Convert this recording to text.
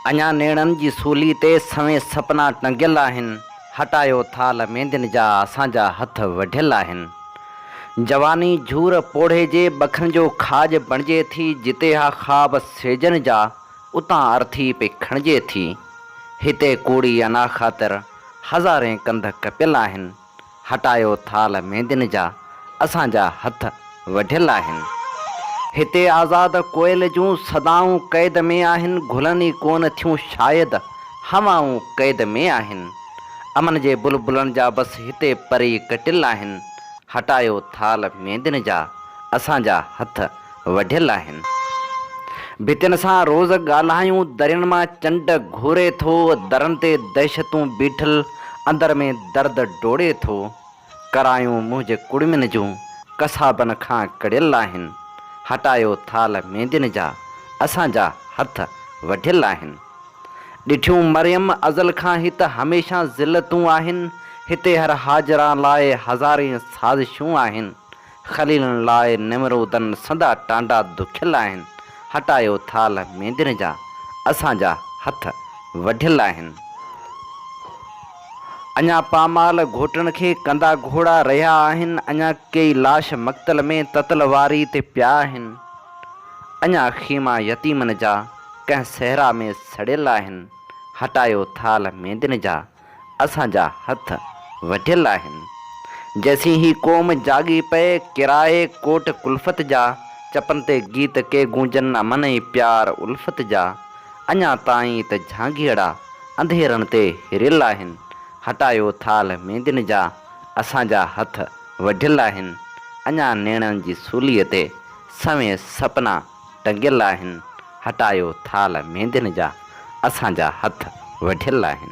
اڃا نيڻن جي سولي تي سوين سپنا ٽنگيل آهن، هٽايو ٿال ميندين جا اسان جا هٿ وڍيل آهن. جواني جهور پوڙهي جي ٻکن جو کاڄ بڻجي ٿي، جتي اها خواب سيجن جا، اتان ارٿي پئي کڻجي ٿي. هتي ڪوڙي انا خاطر هزارين ڪنڌ ڪپيل آهن. هٽايو ٿالهه ميندين جا، اسان جا هٿ وڍيل آهن. هتي آزاد ڪوئل جون صدائون قيد ۾ آهن، گلن ئي ڪونه ٿيون شايد، هوائون قيد ۾ آهن. امن جي بلبلن جا بس هتي پري ڪٽيل آهن. هٽايو ٿالهه ميندين جا، اسان جا هٿ وڍيل آهن. ڀتين سان روز ڳالهايون، درين مان چنڊ گهوري ٿو، درن تي دهشتون بيٺل، اندر ۾ درد ڊوڙي ٿو. ڪرايون منهنجي ڪڙمين جون، قصابن کان ڪڙهيل آهن. هٽايو ٿالهه ميندين جا، اسان جا هٿ وڍيل آهن. ڏٺيون مريم ازل کان هت هميشه ذلتون آهن، هتي هر حاجران لاء هزارين سازشون آهن، خليلن لاء نمرودن سندا ٽانڊا دکيل آهن، هٽايو ٿالهه ميندين جا، اسان جا هٿ وڍيل آهن. اڃا پامال گهوٽڻ کي ڪندا گهوڙا رهيا آهن، اڃا ڪيئي لاش مقتل ۾ تتل واري تي پيا آهن، اڃا خيما يتيمن جا ڪنهن صحرا ۾ سڙيل آهن، هٽايو ٿالهه ميندين جا. اسان جا هٿ وڍيل آهن. جيسين هي قوم جاڳي پئي، ڪرائي ڪوٽ ڪلفت جا، چپن تي گيت ڪي گونجن امن ۽ پيار الفت جا، اڃا تائين ته جهانگيئڙا انڌيرن تي هريل آهن، هٽايو ٿالهه ميندين جا، اسان جا هٿ وڍيل آهن، اڃا نيڻن جي سوليء تي سوين سپنا، ٽنگيل آهن، هٽايو ٿالهه ميندين جا، اسان جا هٿ وڍيل آهن.